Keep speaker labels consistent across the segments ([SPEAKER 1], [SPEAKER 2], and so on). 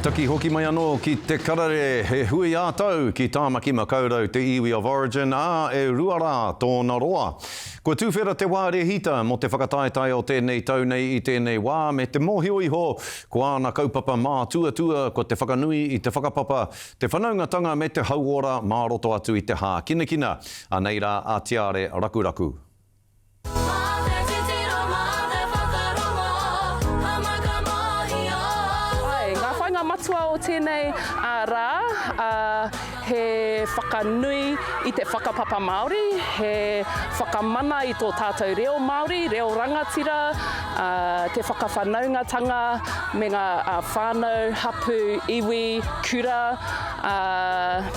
[SPEAKER 1] Taki hoki mai anō ki Te Karere, he hui ā-tau ki Tāmaki Makaurau te iwi of origin, ā, e rua rā tōna roa. Kua tuwhera te wā rēhita mō te whakataetae o tēnei tau nei i tēnei wā me te mōhio iho ko āna kaupapa mātuatua ko te whakanui i te whakapapa, te whanaungatanga me te hauora mā roto atu i te hākinakina. Anei rā a Tiare Rakuraku.
[SPEAKER 2] matua o tēnei rā, he whakanui i te whakapapa Māori, he whakamana i tō tātou reo Māori, reo rangatira, te whakawhanaungatanga me ngā whānau, hapū, iwi, kura,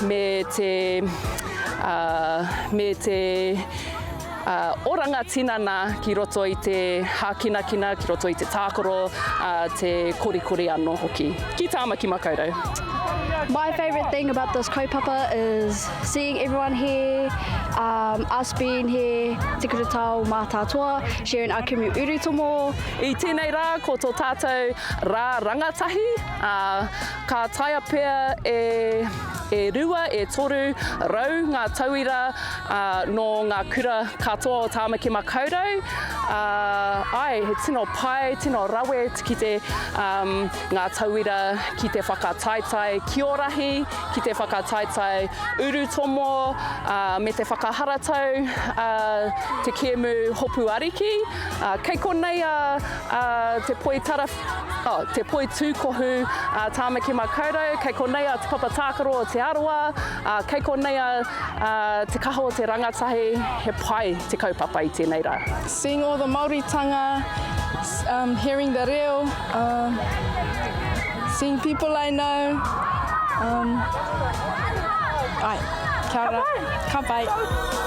[SPEAKER 2] me te me te oranga tinana ki roto i te hākinakina, ki roto i te tākaro, te korikori anō hoki. Ki Tāmaki Makaurau. My
[SPEAKER 3] favourite thing about this kaupapa is seeing everyone here, um, us being here, Te Kura Tao Mātātoa, sharing our kumu urutomo. I tēnei rā
[SPEAKER 2] ko tō tātou rā rangatahi, ā, ka taea pea e, e rua, e toru rau ngā tauira, ā, nō ngā kura katoa o Tāmaki Makaurau, ā, āe, he tino pai, tino rawe ki te, um, ngā tauira ki te whakataetae kiorahi, ki te whakataetae urutomo, ā, me te whakaharatau, ā, te kēmu hopu ariki. Ā, kei konei a, ā, te poitara Oh, te poi tūkohu, uh, Tāmaki Makaurau, kei konei a Te Papa Tākaro o Te Arawa, uh, kei konei a uh, Te Kaha o Te Rangatahi, he pai te kaupapa i tēnei rā. Seeing all the
[SPEAKER 4] Māoritanga, um, hearing the reo, um, seeing people I know, um, ai, kia ora, ka pai. Ka pai.